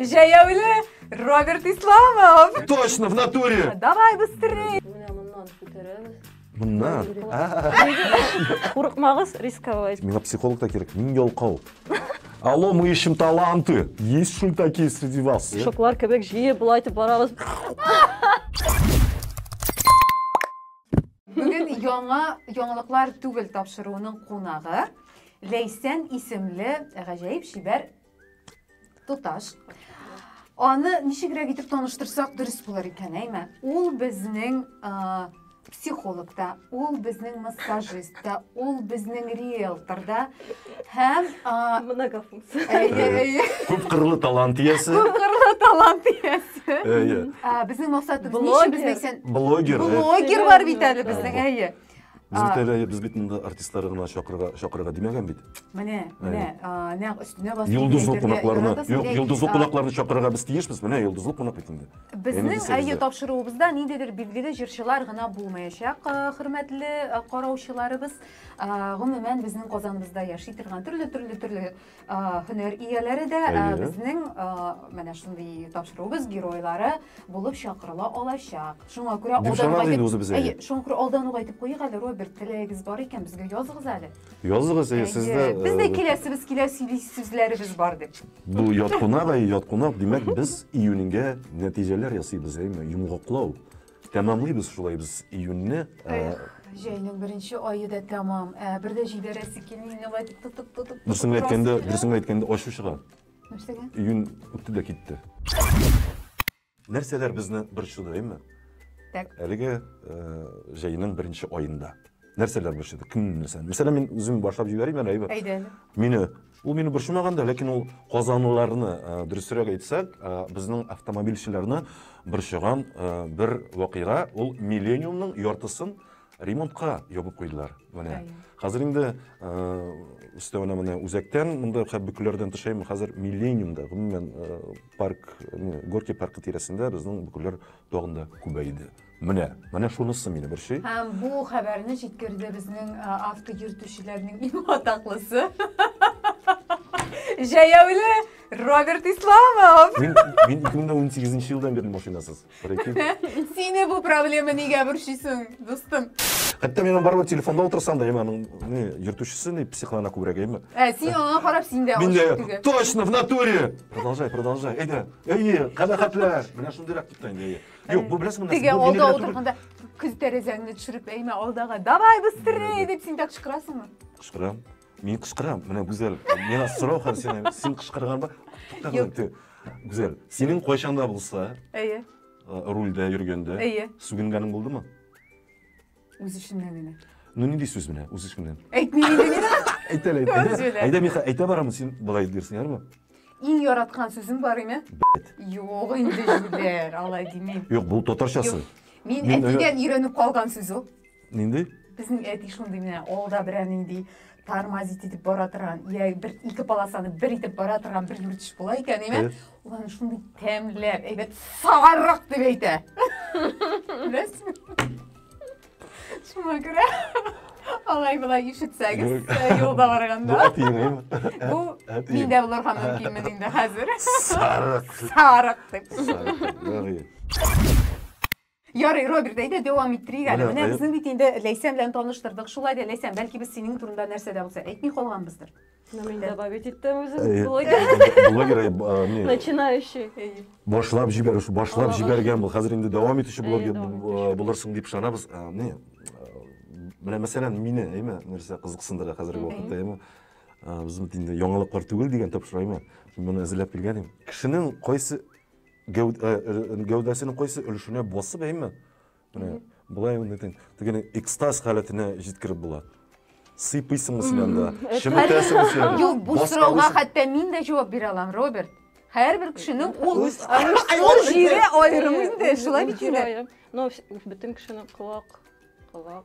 Җәяүле Роберт Исламов! Точно, в натуре! Давай быстрее! Моннан? Курыкмагыз рисковать. Миңа психолог та кирәк, мин ялкау. Алло, мы ищем таланты. Есть что такие среди вас? Шоклар кебек җие болай итеп барабыз. Бүген яңа яңалыклар түгел тапшыруының кунагы Ләйсән исемле гаҗәеп шибәр Туташ. Аны ничегрәк итеп таныштырсак дөрес булыр икән, әйме? Ул безнең психолог та, ул безнең массажист та, ул безнең риэлтор да һәм многофункция. Әйе, әйе. Күп кырлы талант иясе. Күп кырлы талант иясе. Әйе. Безнең максатыбыз ничек безнең икән? Блогер. Блогер бар бит әле безнең, әйе. Безгә тәлә без бит инде артистлары гына чакырырга чакырырга димәгән бит. Менә, менә, нәкъ өстенә басып. Йолдызлы кунакларны, юк, йолдызлы кунакларны чакырырга без тиешбез. Менә йолдызлы кунак бит инде. Безнең әйе тапшыруыбызда ниндидер билгеле җырчылар гына булмаячак, хөрмәтле караучыларыбыз. Гомумән, безнең Казаныбызда яши торган төрле-төрле төрле һөнәр ияләре дә безнең менә шундый тапшыруыбыз геройлары булып чакырыла алачак. Шуңа күрә алдан ук әйтеп куйыйк әле, Роберт, теләгегез бар икән, безгә языгыз әле. Языгыз, әйе, сез дә. Без дә киләсебез килә, сөйли сүзләребез бар дип. Бу ят кунак, әйе, ят кунак. Димәк, без июньгә нәтиҗәләр ясыйбыз, әйеме? Йомгаклау. Тәмамлыйбыз шулай без июньне. Эх, җәйнең беренче ае да тәмам. Ә бер дә җибәрәсе килми мине болай дип тотып тотып. Дөресен генә әйткәндә, дөресен генә әйткәндә ачу чыга. Нәрсәгә? Июнь үтте дә китте. Нәрсәләр безне борчыды, әйме? Так. Әлеге э, җәйнең беренче аенда нәрсәләр борчыды? Кемне нәрсә? Мәсәлән, мин үзем башлап җибәрим әле, әйбәт. Әйдә. Мине Ул мине борчымаган да, ләкин ул казанлыларны, дөресрәк әйтсәк, безнең автомобильчеләрне борчыган бер вакыйга, ул Миллениумның яртысын ремонтка ябып куйдылар. Менә. Хәзер инде өстәвенә менә үзәктән, монда Бөкеләрдән төшәем, хәзер Миллениумда, гомумән, парк, Горки паркы тирәсендә безнең Бөкеләр тагын да күбәйде. Менә, менә шунысы мине борчый. Һәм бу хәбәрне җиткерде безнең а, авто йөртүчеләрнең иң атаклысы. Җәяүле Роберт Исламов. Мин, мин 2018 елдан бирле машинасыз. Прикинь. Сине бу проблема нигә борчыйсың, дустым? Хәтта мин барып телефонда утырсам да, яңа аның не йөртүчесе не психлана күбрәк әйме. Ә, син аңа карап син дә Мин ашык дә түгел. точно в натуре. Продолжай, продолжай. Әйдә. Әйе, кабахәтләр. Менә шундыйрак тотта инде. әйе. Юк, бу беләсеңме? Теге алда утырганда күз тәрәзәңне төшереп әймә алдага. Давай быстрее дип син дә кычкырасыңмы? Кычкырам. Мин кычкырам. Менә Гүзәл, миңа сорау һәм син син кычкырганба. Туктагы. Гүзәл, синең кайчанда булса, әйе. Рульдә йөргәндә, әйе. Сүгенгәнең булдымы? Үз эченнән генә. Ну нинди сүз менә, үз эченнән. Әйтми инде мин. Әйтә әле, әйтә. Үз белән. Әйдә, Миха, әйтә барамын, син болай дирсең, ярмы? Иң яраткан сүзем бар име? Юк инде, Юлер, алай димим. Юк, бу татарчасы. Юк. Мин Мин, әтидән өйрәнеп калган сүз ул. Нинди? Безнең әти шундый менә алда берәр нинди тормозить итеп бара торган я бер ике полосаны бер итеп бара торган бер юртыш була икән әйме ул аны шундый тәмләп әйбәт сагаррак дип әйтә беләсезме шуңа күрә алай болай ишетсәгез юлда барганда бу миндә булырга мөмкинмен инде хәзер сарык сарык дип Ярый, Роберт, әйдә дәвам иттерик әле. Менә безнең бит инде Ләйсән белән таныштырдык. Шулай да Ләйсән, бәлки без синең турында нәрсә дә булса әйтми калганбыздыр. Ну, мин добавить иттем үзем. Блогер. Блогер, э, начинающий. Башлап җибәрүче, башлап җибәргән бу. Хәзер инде дәвам итүче блогер э, булырсың дип ышанабыз. Э, менә менә мәсәлән, мине, әйме, нәрсә кызыксындыра хәзерге вакытта, әйме. Без инде яңалыклар түгел дигән тапшырайма. Мин моны әзерләп килгән идем. Кешенең кайсы Гәүд, э, э, гәүдәсенең кайсы өлешенә басып әйме? Менә болай ул нитен, дигән экстаз халәтенә җиткереп була. Сыйпыйсың исеннән дә, шеметәсең исеннән. Юк, бу Баска сорауга үз- хәтта мин дә җавап бирә алам, Роберт. Һәрбер кешенең ул Үз- ул җире аерым инде, шулай бит инде. Җирая. Но вс- бөтен кешенең колак, колак.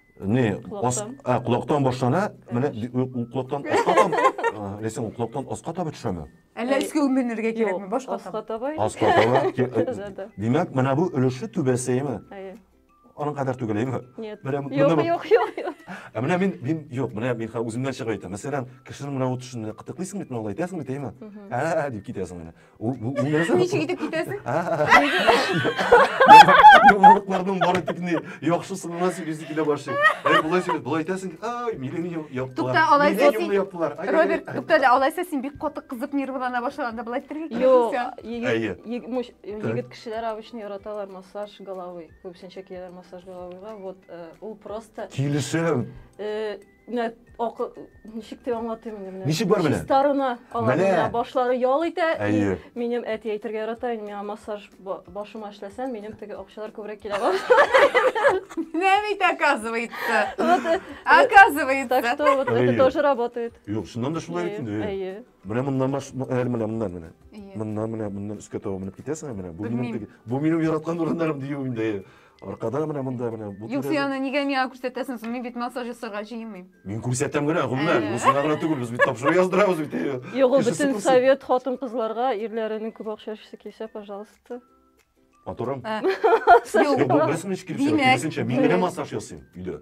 не колактан башлана менә ул колактан аска таба ләсәң ул колактан аска таба төшәме әллә өскә менергә кирәкме башка аска таба аска таба димәк менә бу өлеше түбәсеме аның кадәр түгел әйме нет юк юк юк ә менә мин мин юк менә мин үземнән чыгып әйтәм мәсәлән кешенең менә ут эшенә кытыклыйсың бит менә алай итәсең бит әйме ә дип китәсең менә ничек итеп китәсең йомырыкларның бары тик ни яхшы сынына сөйлисе килә башлый әй болай сөйләп болай әйтәсең ай мине яптылар тукта алайса син яптылар роберт тукта әле алайса син бик каты кызып нервылана башлаганда болай әйтергә кирәк юк егет кешеләр обычно яраталар массаж головы күбесенчә киләләр массаж головыйга вот ул просто килешәм Менә акы ничек дип аңлатыйм инде менә. Ничек бар менә? Чистарына аларына башлары ял итә. Әйе. Минем әти әйтергә ярата, инде миңа массаж башыма эшләсәм, минем теге акчалар күбрәк килә башлый. Менә бит оказывается. Э, оказывается. Так что вот это тоже работает. Юк, шуннан да шулай бит инде. Әйе. Менә моннан баш, әле менә моннан менә. Моннан менә моннан өскә таба менеп китәсең менә. Бу минем бу минем яраткан урыннарым дию инде. Аркада менә монда менә. Юк, син аны нигә миңа күрсәтәсең? Мин бит массаж ясарга җыенмыйм. Мин күрсәтәм генә, гомумән. Бу сиңа гына түгел, без бит тапшыру яздырабыз бит. Юк, ул бөтен совет хатын-кызларга ирләренең күп акча эшләсе килсә, пожалуйста. Матурым. Юк, бу без мин килешәм. Мин генә массаж ясыйм өйдә.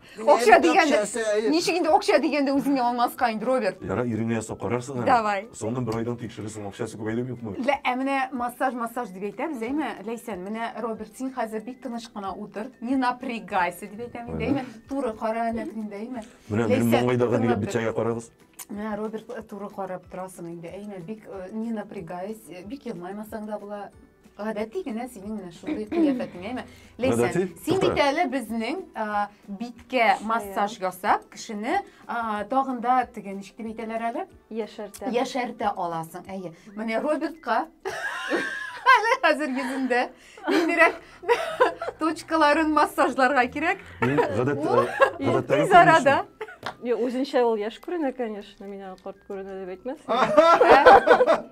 Акча дигәндә, ничек инде акча дигәндә үзеңне алмаска инде, Роберт? Яра, иреңне ясап карарсың әле. Давай. Соңыннан бер айдан тикшерерсең, акчасы күбәйдеме юкмы? Лә, ә менә массаж, массаж дип әйтәбез, әйме, Ләйсән, менә Роберт, син хәзер бик тыныч кына утыр, не напрягайся дип әйтәм инде, әйме, туры кара әнә инде, әйме. Менә минем маңгайдагы нигә бичәгә карагыз. Менә Роберт туры карап торасың инде, әйме, бик не напрягайся, бик елмаймасаң да була. Гадәти генә синең менә шундый кыяфәтеңә әйме. Ләйсән, Гадәти? син Тукта. бит әле безнең а, биткә массаж ясап, кешене а, тагын да теге ничек дип әйтәләр әле? Яшәртә. Яшәртә аласың. Әйе. Менә Робертка әле хәзер йөзендә ниндирәк точкаларын массажларга кирәк. Мин гадәт, Ул э, гадәттәге Тиз арада. Юк, үзенчә ул яшь күренә, конечно. Мин аны карт күренә дип әйтмәс.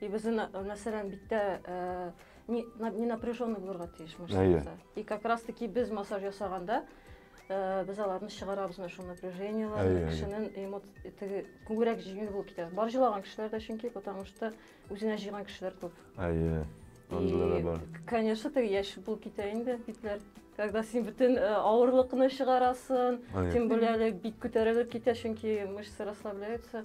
И без мәсәлән биттә не, не напряженный булырга тиеш мышцаларда. И как раз таки без массаж ясаганда без аларны чыгарабыз менә шул напряжениеләрне, кешенең эмоци теге күңелрәк җиңел булып китә. Бар җылаган кешеләр дә чөнки, потому что үзенә җыйган кешеләр күп. Әйе. Андыйлар бар. Конечно, теге яшь булып китә инде битләр. Когда син бөтен авырлыкны чыгарасын, тем более бит күтәрелеп китә, чөнки мышцы расслабляются.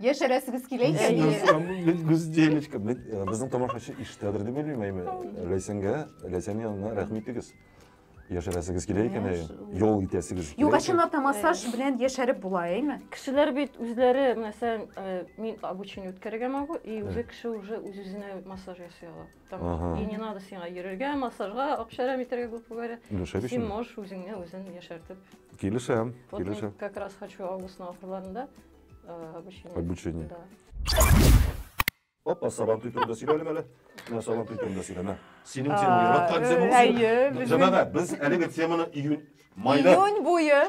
Яшәрәсегез килә икән диелә. Гүзделечка, безнең тамашачы иштәдер дип уйлыйм, әйме. Ләйсәнгә, Ләйсән янына рәхим итегез. Яшәрәсегез килә икән, әйе. Ял итәсегез килә. Юк, ә чынлап та массаж белән яшәреп була, әйме? Кешеләр бит үзләре, мәсәлән, мин обучение үткәрергә могу, и уже кеше уже үз-үзенә массаж ясый ала. Там, и не надо сиңа йөрергә, массажга, акчарам итәргә, грубо говоря. Син можешь үзеңне үзең яшәртеп. Килешәм, килешәм. Вот мин как раз хочу августның ахырларында э, обучение. Обучение. Да. Опа, сабантуй турында сөйлә әле әле. Менә сабантуй турында сөйлә, менә. Синең темаң яраткан э, темаң. Әйе. Җәмәгать, без әлеге теманы июнь, майда. Июнь буе.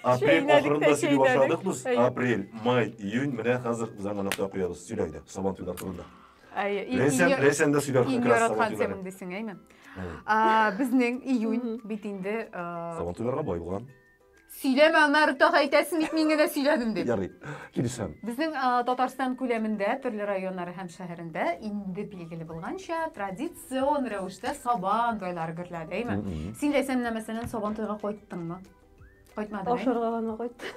Апрель ахырында сөйли башладык без. Апрель, май, июнь менә хәзер без аңа нокта куябыз. Сөйлә иде сабантуйлар турында. Рәсән, рәсән дә сөйләр. Иң яраткан темам дисең, әйме? Безнең июнь бит инде сабантуйларга бай булган. Сөйләмә, аннары тагы әйтәсең бит, мин генә сөйләдем дип. Ярый, килешәм. Безнең Татарстан күләмендә, төрле районнар һәм шәһәрендә инде билгеле булганча, традицион рәвештә Сабан туйлары гөрлә, дәйме? Син дәсәм менә мәсәлән Сабан туйга кайттыңмы? Кайтмадың. Ашарга гына кайттым.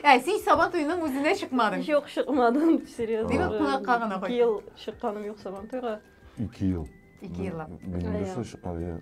Ә син Сабан туйның үзенә чыкмадың. Юк, чыкмадым, серьезно. Димәк, кунакка гына кайттың. 2 ел чыкканым юк Сабан туйга. 2 ел. 2 еллап. Мин нәрсә чыккан?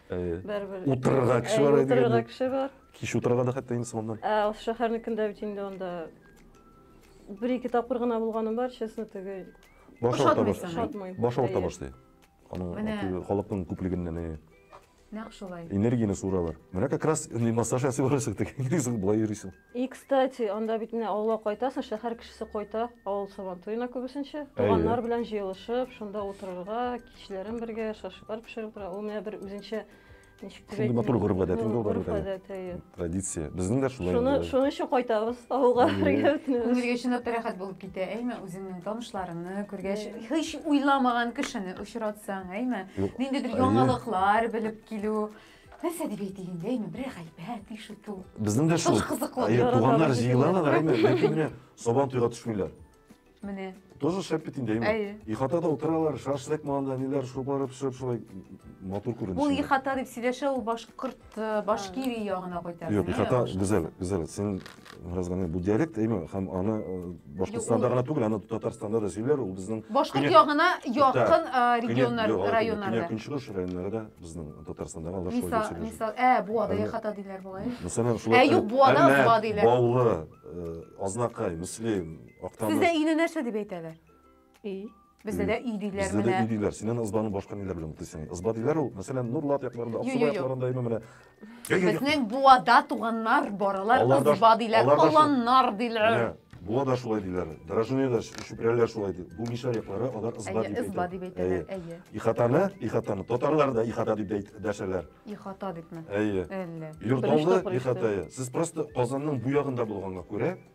Бәрбер. Утырырга кеше бар иде. Утырырга кеше бар. Кич утырырга да хәтта инде соңыннан. Ә ул шәһәрнекендә бит инде анда бер-ике тапкыр гына булганым бар, честно, теге. Баш авырта башлый. Баш авырта башлый. Аның халыкның күплегеннән әйе. Нәкъ шулай. Энергияне суралар. Менә как раз массаж ясый барасың, теге энергиясен болай йөрисең. И, кстати, анда бит менә авылга кайтасың, шәһәр кешесе кайта, авыл сабан туена күбесенчә. Туганнар белән җыелышып, шунда утырырга, кичләрен бергә шашлыклар пешереп утыра. Ул менә бер үзенчә ничек дип Шундый матур гореф гадәт инде ул Гореф гадәт, әйе. Традиция. Безнең дә шулай. Шуны шуның өчен кайтабыз авылга бергә бөтенебез. Күңелгә чынлап та рәхәт булып китә, әйме? Үзеңнең танышларыңны күргәч, һич уйламаган кешене очратсаң, әйме? Ниндидер яңалыклар белеп килү. Нәрсә дип әйтик инде, әйме, бер гайбәт ишетү. Безнең дә шул. Кызыклы. Туганнар җыелалар, әйме, ләкин менә сабан туйга төшмиләр. Менә. Тоже шәп бит инде, әйме. Әйе. Ихатада утыралар, шашлык манда, ниләр шубары пешереп шулай матур күренеш. Ул ихата дип сөйләшә, ул башкорт, э, башкирия ягына кайтасы. Юк, ихата гүзәл, гүзәл. Син Разганы бу диалект әйме һәм аны э, Башкортстанда гына түгел, аны Татарстанда да сөйләр, ул безнең Башкорт ягына якын э, регионнар, районнарда. Көнчыгыш районнарда безнең Татарстанда алар шулай дип сөйләр. Мисал, ә Буада яхата диләр бугай. Мәсәлән, шулай. Ә юк, Буада Буа диләр. Баулы, э, Азнакай, Мөслим, Актаныш. Сездә өйне нәрсә дип әйтәләр? Өй. Бездә дә өй диләр Бездә дә өй диләр. Син аны ызбаны башка ниләр белән бутыйсың? Ызба диләр ул, мәсәлән, Нурлат якларында, Аксубай якларында именно менә. Безнең Буада туганнар баралар, ызба диләр, аланнар диләр. Буа да шулай диләр. Дорожные да шүпрәләр шулай ди. Бу мишәр яклары алар ызба дип әйтә. Ызба дип әйтәләр, әйе. Ихатаны, ихатаны татарлар да ихата дип дәшәләр. Ихата дипме? Әйе. Әллә. Йорталны ихатае. Сез просто Казанның бу ягында булганга күрә,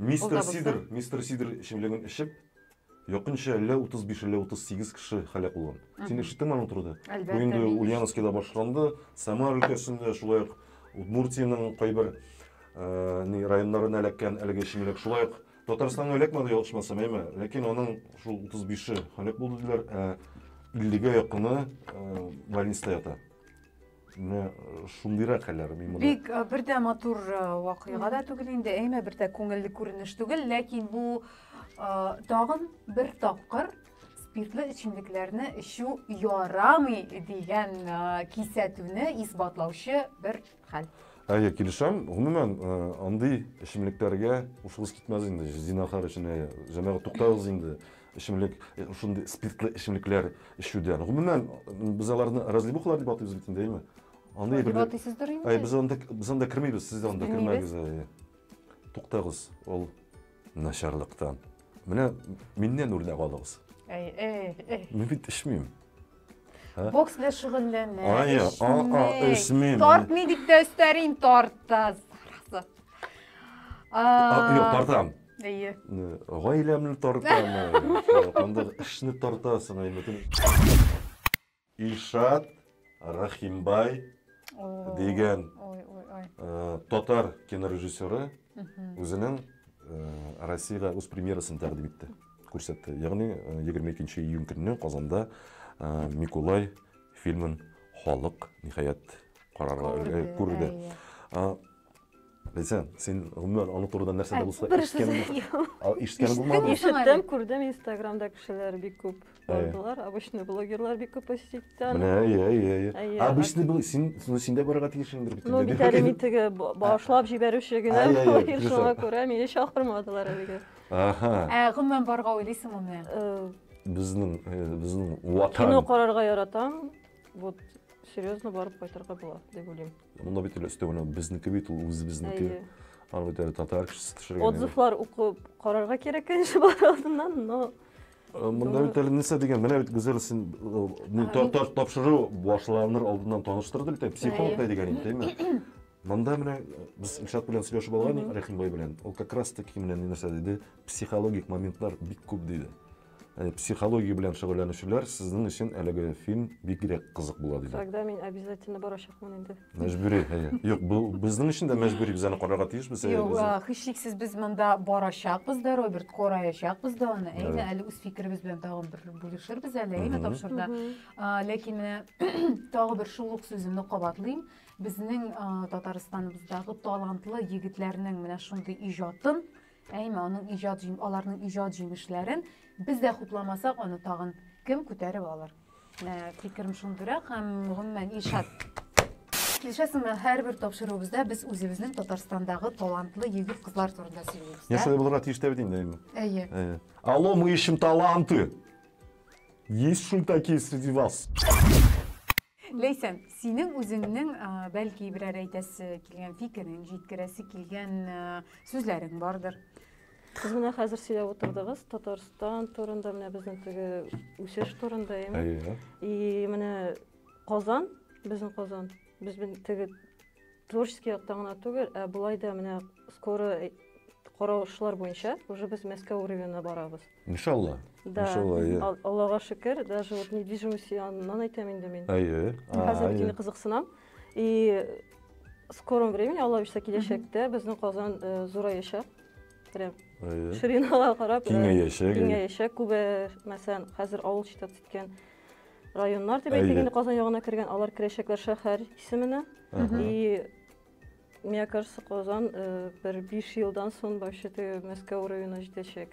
Мистер Сидр, Мистер Сидр эчемлеген эчеп, якынча әллә 35, әллә 38 кеше һәлак булган. Син ишеттеңме аның турыда? Бу инде Ульяновскида башланды, Самара өлкәсендә, шулай ук Удмуртиянең кайбер районнарына эләккән әлеге эчемлек. Шулай ук Татарстанга эләкмәде, ялгышмасам, әйме? Ләкин аның шул 35-е һәлак булды диләр, ә 50-гә якыны больниста ята. Менә э, шундыйрак әле мин моны Бик э, бер дә матур э, вакыйга да түгел инде, әйме бер дә күңелле күренеш түгел, ләкин бу э, тагын бер тапкыр спиртлы эчемлекләрне эчү ярамый дигән э, кисәтүне исбатлаучы бер хәл. Әйе, килешәм. Гомумән, э, андый эчемлекләргә ушыгыз китмәс инде. Зинахар өчен әйе. Җәмәгать туктагыз инде. Эчемлек, шундый спиртлы эчемлекләр эчүдән. Гомумән, без аларны разливухалар дип атыйбыз бит инде, әйме? Андый бер... Атыйсыздыр инде. Ай, без анда, без анда кермибез, сез анда кермәгез. Туктагыз, ул начарлыктан. Менә миннән үрнәк алыгыз. Әй, әй, әй. Мин бит эчмим. Бокс белән шөгыльләнә. Ай, а, а, эчмим. Тартмый дип тә өстәрин, тарта. Юк, тартам. Әйе. Гаиләмне тартамы? Анда эшне тартасың ай бөтен. Илшат Рахимбай дигән татар кинорежиссеры үзенең Россиягә үз премьерасын тәкъдим итте, күрсәтте. Ягъни 22 июнь көнне Казанда Микулай фильмын халык ниһаять карарга күрде. Белсәң, син гомумән аның турыдан нәрсә дә булса ишеткән булмадың. Ишеттем, күрдем Инстаграмда кешеләр бик күп булдылар. Обычный блогерлар бик күп посетить итә. Менә, әйе, әйе, әйе. Обычный был син, син дә барырга тиеш инде бит. Ну, бит әле мин теге башлап җибәрүче генә булыр, шуңа күрә мине чакырмадылар әлегә. Аха. Ә гомумән барырга уйлыйсыңмы? Безнең, безнең ватан. Кино карарга яратам. Вот серьезно барып кайтырга була, дип уйлыйм. Монда бит әле өстәвенә безнеке бит ул үзебезнеке. Аны бит әле татар кешесе төшергән. Отзывлар укып карарга кирәк инде бар алдыннан, но э, Монда бит әле нәрсә дигән, менә бит Гүзәл син э, тапшыру башланыр алдыннан таныштырды бит, психолог та дигән инде, әйме? Монда менә э, без Илшат белән сөйләшеп алган Рәхимбай белән. Ул как раз таки менә нәрсә диде, психологик моментлар бик күп диде. Психология белән шөгыльләнүчеләр сезнең өчен әлеге фильм бигрәк кызык була диләр. Тогда мин обязательно барачакмын инде. Мәҗбүри, әйе. Юк, бу безнең өчен дә мәҗбүри, без аны карарга тиешбез. Юк, һичшиксез без монда барачакбыз да, Роберт, караячакбыз да аны. Әйе, әле үз фикеребез белән тагын бер бүлешербез әле, әйе, тапшырда. Ләкин менә тагы бер шул ук сүземне кабатлыйм. Безнең Татарстаныбыздагы талантлы егетләрнең менә шундый иҗатын Әйме, аның иҗат җим, аларның иҗат җимешләрен без дә хупламасак, аны тагын кем күтәреп алыр? Ә, фикерем шундыйрак һәм гомумән Илшат Килешәсеңме, һәрбер тапшыруыбызда без үзебезнең Татарстандагы талантлы егет кызлар турында сөйлибез. Я шулай булырга тиеш тә бит инде. Әйе. Әйе. Алло, мы ищем таланты. Есть шультаки среди вас? Ләйсән, синең үзеңнең, бәлки, берәр әйтәсе килгән фикерең, җиткерәсе килгән сүзләрең бардыр. Сез менә хәзер сөйләп утырдыгыз Татарстан турында, менә безнең теге үсеш турында, яме. Әйе. И менә Казан, безнең Казан, без бен теге творческий яктан гына түгел, ә болай да менә скоро каравышлар буенча уже без Мәскәү уровенена барабыз. Иншалла. Да. Иншалла, иә. Ал- Аллаға шөкер, даже вот недвижимость янынан әйтәм инде мин. Әйе. А, Хәзер әйе. дини кызыксынам. И в скором времени, Алла бирсә киләчәктә безнең Казан э, зураячак. Прям Әйе. ширинага карап э, Киңәячәк. әйе. киңәячәк. Күбе, мәсәлән, хәзер авыл читат иткән районнар дип Әйе. әйтик инде Казан ягына кергән, алар керәчәкләр шәһәр исеменә. Ага. И Мне кажется, Казан э, бер биш елдан соң вообще Мәскәү уровена җитәчәк.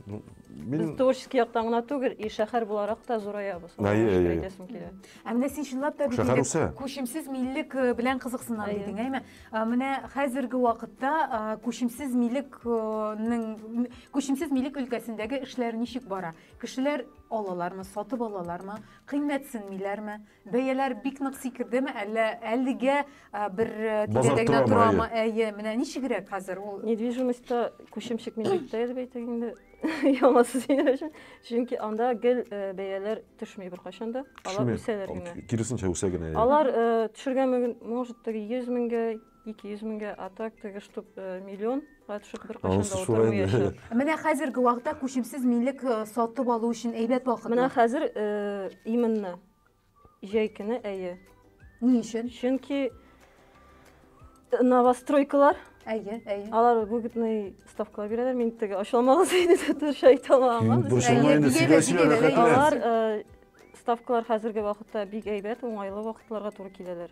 Ну, Без мин... творческий яктан гына түгел, и шәһәр буларак та зураябыз. Ай, ай, ай. Әйтәсем килә. Ә менә син чынлап та бит Шәһәр инде үсә. күчемсез миллек э, белән кызыксына Әйе. дидең, әйме? Ә, Менә хәзерге вакытта ә, күчемсез милекнең күчемсез милек өлкәсендәге эшләр ничек бара? Кешеләр алалармы, сатып алалармы, кыйммәтсенмиләрме? Бәяләр бик нык сикердеме, әллә әлегә бер тирәдә генә торамы? Әйе, менә ничегрәк хәзер ул? Недвижимостьта күчем чыкмый бит тә, дип әйтик инде. Ямасы синер өчен. Чөнки анда гел бәяләр төшми беркайчан да. Алар үсәләр генә. Киресенчә үсә генә. Алар төшергән, может, 100 меңгә, 200 меңгә, а так теге штук э, миллион төшеп бер кашында Анысы шулай инде. утырмаячак. Менә хәзерге вакытта күчемсез милек э, сатып алу өчен әйбәт вакыт. Менә хәзер э, именно җәй көне әйе. Ни өчен? Чөнки э, новостройкалар, Әйе, әйе. алар выгодный ставкалар бирәләр. Мин теге ачылмагыз иде төш әйтә алмам. Мин борчылма Әйе, инде, бигәбез, сөйлә, сөйлә, бигәбез, рәхәтлән. Алар э, ставкалар хәзерге вакытта бик әйбәт, уңайлы вакытларга туры киләләр.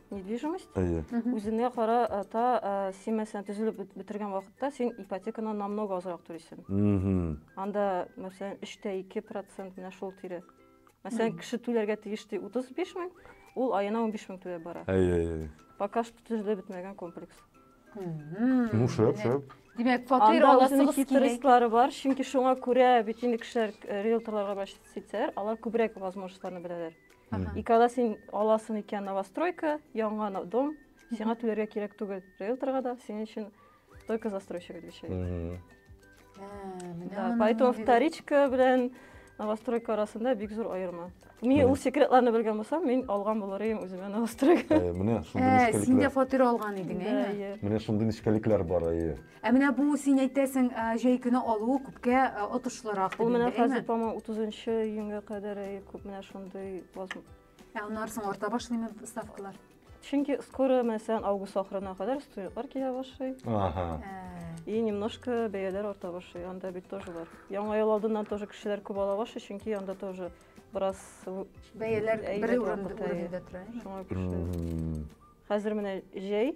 недвижимость әйе үзеңә карата син мәсәлән төзелеп бетергән вакытта син ипотеканы намного азрак түлисең анда мәсәлән өчтә ике процент менә шул тирә мәсәлән кеше түләргә тиеш ди утыз биш мең ул аена унбиш мең түләп бара әйе әйе пока что төзелеп бетмәгән комплекс ну шәп шәп димәк фатир аласыгыз хитрестлары бар чөнки шуңа күрә бит инде кешеләр риэлторларга обращаться итсәләр алар күбрәк возможностьларны беләләр И когда син аласың икән новостройка, яңа дом, сиңа түләргә кирәк түгел риэлторга да, синең өчен только застройщик отвечает. Да, поэтому вторичка белән новостройка арасында бик зур аерма. Мин ул секретларны белгән булсам, мин алган булыр идем үземә новостройка. Менә шундый нечкәлекләр. Син дә фатир алган идең, әйе. Менә шундый нечкәлекләр бар, әйе. Ә менә бу син әйтәсең, ә, җәй көне алуы күпкә ә, отышлырак Ул дип менә инде, хәзер, әйме? по-моему, 30 июньгә кадәр әй, күп менә шундый возм- Ә аннары соң арта башлыймы ставкалар? Чөнки скоро мәсәлән август ахырына кадәр студентлар килә башлый. Ага. Ә, И немножко бәяләр арта башлый. Анда бит тоже бар. Яңа ел алдыннан тоже кешеләр күп ала башлый, чөнки анда тоже бераз в- Бәяләр Әйбәт бер урында вакыт, әйе. урында тора. әйме? шуңа күчте. Мгм. Хәзер менә җәй,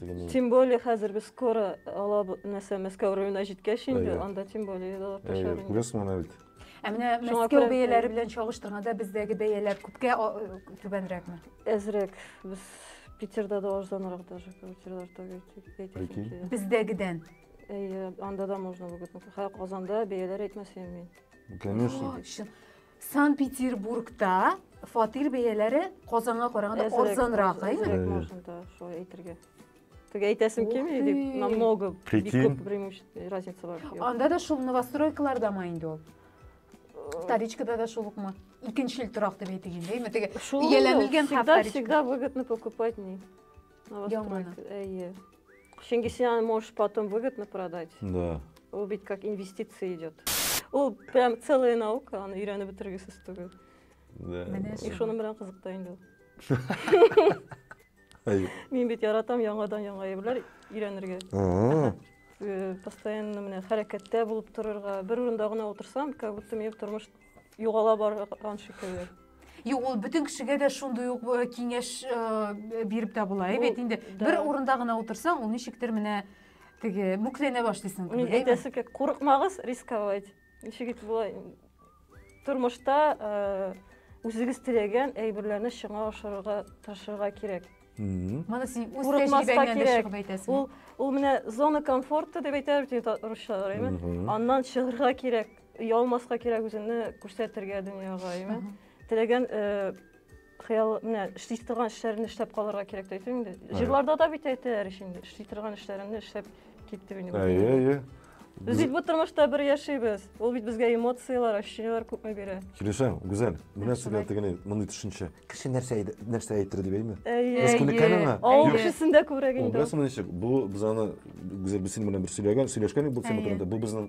Тегене... Тем более, хәзер без скоро ала нәрсә Мәскәү районына җиткәч инде, анда тем более да артачак. Әйе, күрәсең моны бит. Ә менә Мәскәү бәяләре белән чагыштырганда бездәге бәяләр күпкә түбәнрәкме? Әзрәк. Без Питерда да арзанрак даже квартиралар түгел. Бездәгедән. Әйе, анда да можно выгодно. Казанда бәяләр әйтмәсәм мин. Конечно. Сан Петербургта фатир бәяләре Казанга караганда арзанрак, әйме? Шулай әйтергә. Тик әйтәсем килми дип, намного бик күп преимущество разница бар. Анда да шул новостройкаларда ма инде ул? Вторичкада да шул укма. Икенчел торак дип әйтик инде, әйме? Теге ияләнелгән һәм всегда всегда выгодно покупать не. Новостройка. Әйе. Чөнки син аны можешь потом выгодно продать. Да. Ул бит как инвестиция идет. Ул прям целая наука, аны өйрәнеп бетергесез түгел. Да. И шуның белән кызыкта инде ул. Мин бит яратам яңадан яңа әйберләр өйрәнергә. Э, постоянно менә хәрәкәттә булып торырга, бер урында гына утырсам, как будто минем тормыш Югала барган шикелле. Юк, ул бөтен кешегә дә шундый ук э, киңәш э, биреп тә була. Бу- Әйбәт инде. да. Бер урында гына утырсаң, ул ничектер менә теге мүкләнә башлыйсың. Мин Әйбәт. әйтәсе килә, курыкмагыз рисковать. Ничек итеп болай тормышта э, үзегез теләгән әйберләрне шуңа ашырырга тырышырга кирәк. Мгм. Моны син үз Курыкмаска тәҗрибәңнән дә кирәк. чыгып әйтәсең. Ул ул менә зона комфорта дип әйтәләр бит инде та- русчалар, әйме? Мгм. Аннан чыгарга кирәк. Ялмаска кирәк үзеңне күрсәтергә дөньяга, яме. Теләгән хыял менә эшли торган эшләрне эшләп калырга кирәк дип әйтәм инде. Җырларда да бит әйтәләр ич инде, эшли торган эшләреңне эшләп кит дип инде. Әйе, әйе. Без бит бу тормышта бер яшибез. Ул бит безгә эмоцияләр, ощущениеләр күпме бирә. Килешәм, Гүзәл. Менә сезгә тегене мондый төшенчә. Кеше нәрсә нәрсә әйтер дип әйме? Әйе. Республиканың. Авыл кешесендә күбрәк инде. Бу без аны Гүзәл без синең белән бер сөйләгән, сөйләшкән идек бу темадан. Бу безнең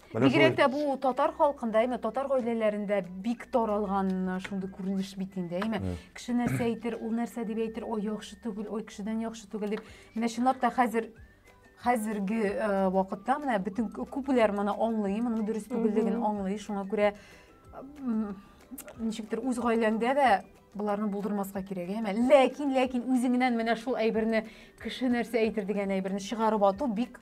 Бигрәк тә бу татар халкында, әйме, татар гаиләләрендә бик таралган шундый күренеш бит инде, әйме. Кеше нәрсә әйтер, ул нәрсә дип әйтер, ой, яхшы түгел, ой, кешедән яхшы түгел дип. Менә чынлап та хәзер хәзерге вакытта менә бөтен күпләр моны аңлый, моның дөрес түгеллеген аңлый. Шуңа күрә ничектер үз гаиләңдә дә боларны булдырмаска кирәк әмә ләкин ләкин үзеңнән менә шул әйберне кеше нәрсә әйтер дигән әйберне чыгарып ату бик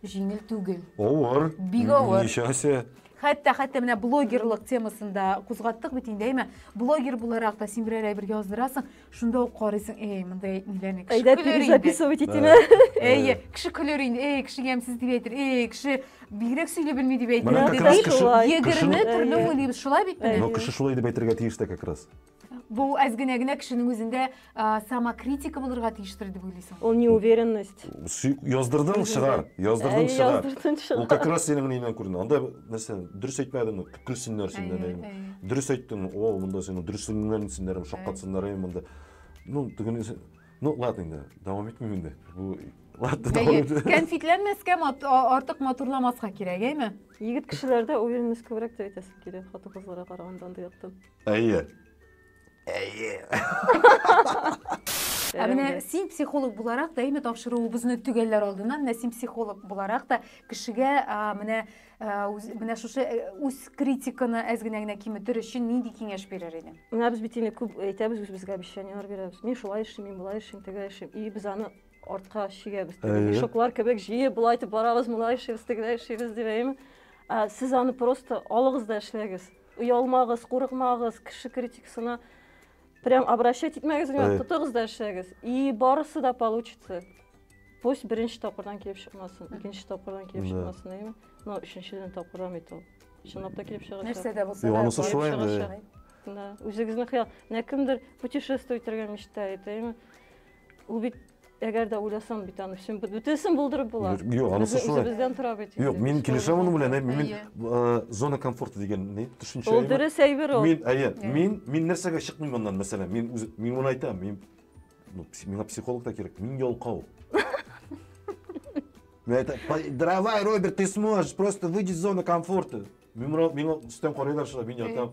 Җиңел түгел. Авыр. Бик авыр. Ничәсе? Хәтта хәтта менә блогерлык темасында кузгаттык бит инде, әйме? Блогер буларак та син берәр әйбер яздырасың, шунда ук карыйсың, эй, мондай әйтмиләрне. Әйдә, перезаписывать итимә. Әйе, кеше көлер инде, эй, кеше ямьсез дип әйтер, эй, кеше бигрәк сөйли белми дип әйтер. Менә как раз кеше... Егерме төрле уйлыйбыз, шулай бит менә. Но кеше шулай дип әйтергә тиеш тә как раз. Бу әз генә генә кешенең үзендә а, самокритика булырга тиештер дип уйлыйсың. Ул неуверенность. Су- Яздырдың чыгар, яздырдың Әй, чыгар. яздырдың Ул чыгар. как раз синең неңнән күренә. Анда нәрсә, дөрес әйтмәдеңме? Көлсеннәр синнән. Әйе, әйме. әйе. Дөрес әйттең, о, монда синең дөресеңнән синнәрем шаккатсыннар әйме монда. Ну, тегене сен- Ну, ладно инде, дәвам итмим инде. Бу ладно, дәвам Әйе, итмим. кәнфитләнмәскә, мат- а- артык матурламаска кирәк, әйме? Егет кешеләрдә уверенность күбрәк дип әйтәсе килә, хатын-кызларга караганда андый яктан. Әйе. Әйе. Ә менә син психолог буларак та, әйме тапшыруыбызны төгәлләр алдыннан, менә син психолог буларак та кешегә менә менә шушы үз критиканы әз генә генә киметер өчен нинди киңәш бирер идең? Менә без бит инде күп әйтәбез үзебезгә обещаниеләр бирәбез. Мин шулай эшлим, мин болай эшлим, тегә эшлим. И без аны артка чигәбез. Мешоклар кебек җыеп болай итеп барабыз, мулай эшлибез, тегеләй эшлибез дип әйме. Сез аны просто алыгыз да эшләгез. Оялмагыз, курыкмагыз, кеше критикасына прям обращать итмәгез, внимание, тотыгыз да эшләгез. И барысы да получится. Пусть беренче тапкырдан килеп чыкмасын, икенче тапкырдан килеп чыкмасын, әйме? Но өченчедән тапкырдан бит ул. Чынлап та килеп чыгачак. Нәрсә дә булса. Юк, анысы шулай инде. Да, үзегезнең хыял. Менә кемдер путешествовать итәргә мечтает, әйме? Ул бит әгәр дә уйласам бит аны өчен бөтенесен булдырып була. Юк, анысы шулай. Үзебездән тора бит. Юк, мин килешәм моның белән. Мин э, зона комфорта дигән ни төшенчә. Ул дөрес әйбер ул. Мин, әйе, мин мин нәрсәгә чыкмыйм моннан, мәсәлән, мин үз мин моны әйтәм, мин ну, миңа психолог та кирәк, мин ялкау. Это, давай, Роберт, ты сможешь, просто выйди из зоны комфорта. Миңа, миңа үстән карыйлар шулай, мин ятам.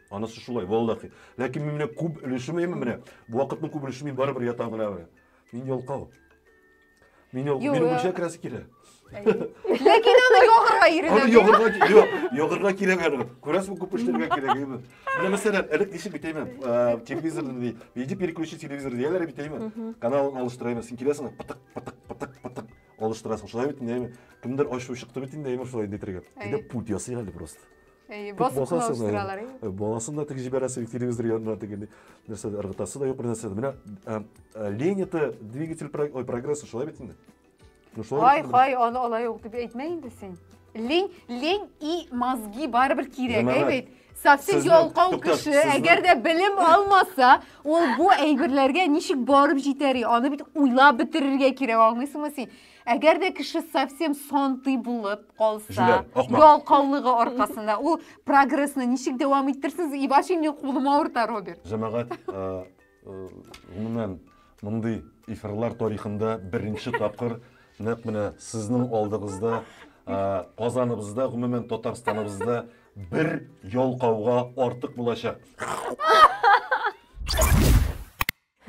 Анысы шулай, валлахи. Ләкин мин менә күп өлешем әйме менә. Бу вакытның күп өлешем мин барыбер ятам гына менә. Мин ялкау. Мин ялкау. Юк. Минем үлчә керәсе килә. Ләкин аны ягырга Аны иренә. ягырга, юк, ягырга кирәк аны. Күрәсең, күп эшләргә кирәк әйме. Менә мәсәлән, элек ничек бит әйме, э, телевизор ди, иди переключи телевизор дияләр бит әйме. Каналын алыштыра әйме, син киләсең, пытык, пытык, пытык, пытык алыштырасың. Шулай бит инде әйме. Кемдер ачуы чыкты бит инде әйме, шулай инде итәргә. Әйе. Әйдә пульт ясыйк әле просто. Әйе, басып кына үстерәләр. Баласын да тик җибәрәсе юк телевизор янына тегенди. Нәрсә ыргытасы да юк нәрсә. Менә лень это двигатель ой прогресса шулай бит инде. Ну шулай. Хай, хай, аны алай юк дип әйтмә инде син. Лень, лень и мозги барыбер кирәк, әйбәт. Совсем ялкау кеше, әгәр дә белем алмаса, ул бу әйберләргә ничек барып җитәри? Аны бит уйлап бетерергә кирәк, аңлыйсыңмы син? Әгәр дә кеше совсем сантый булып калса, Җүләр, ахмак. ялкаулыгы аркасында, ул прогрессны ничек дәвам иттерсез? И вообще минем кулым авырта, Роберт. Җәмәгать, э, э, гомумән, мондый эфирлар тарихында беренче тапкыр нәкъ менә сезнең алдыгызда, э, Казаныбызда, гомумән Татарстаныбызда бер ялкауга артык булачак.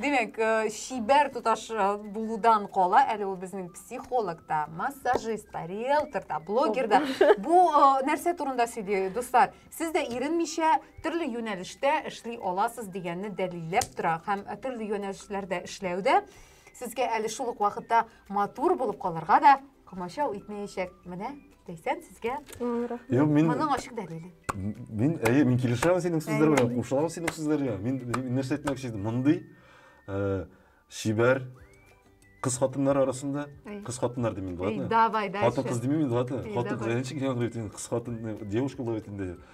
Димәк, э, чибәр туташ э, булудан кала, әле ул безнең психолог та, массажист та, риэлтор да, блогер да. Бу э, нәрсә турында сөйли, дуслар? Сез дә иренмичә төрле юнәлештә эшли аласыз дигәнне дәлилләп тора һәм э, төрле юнәлешләрдә эшләүдә сезгә әле шул ук вакытта матур булып калырга да комачау итмәячәк. Менә Ләйсән, сезгә Юк, мин моның ачык дәлиле. Мин, әйе, мин килешәм синең сүзләр белән, кушылам синең сүзләргә. Мин нәрсә әйтмәкче идем? Мондый э, чибәр кыз хатыннар арасында, кыз хатыннар димим, ладно? Давай, дальше. Хатын кыз димим, ладно? Хатын кыз, әнчик яңгырый, кыз хатын, девушка булып әйтенде.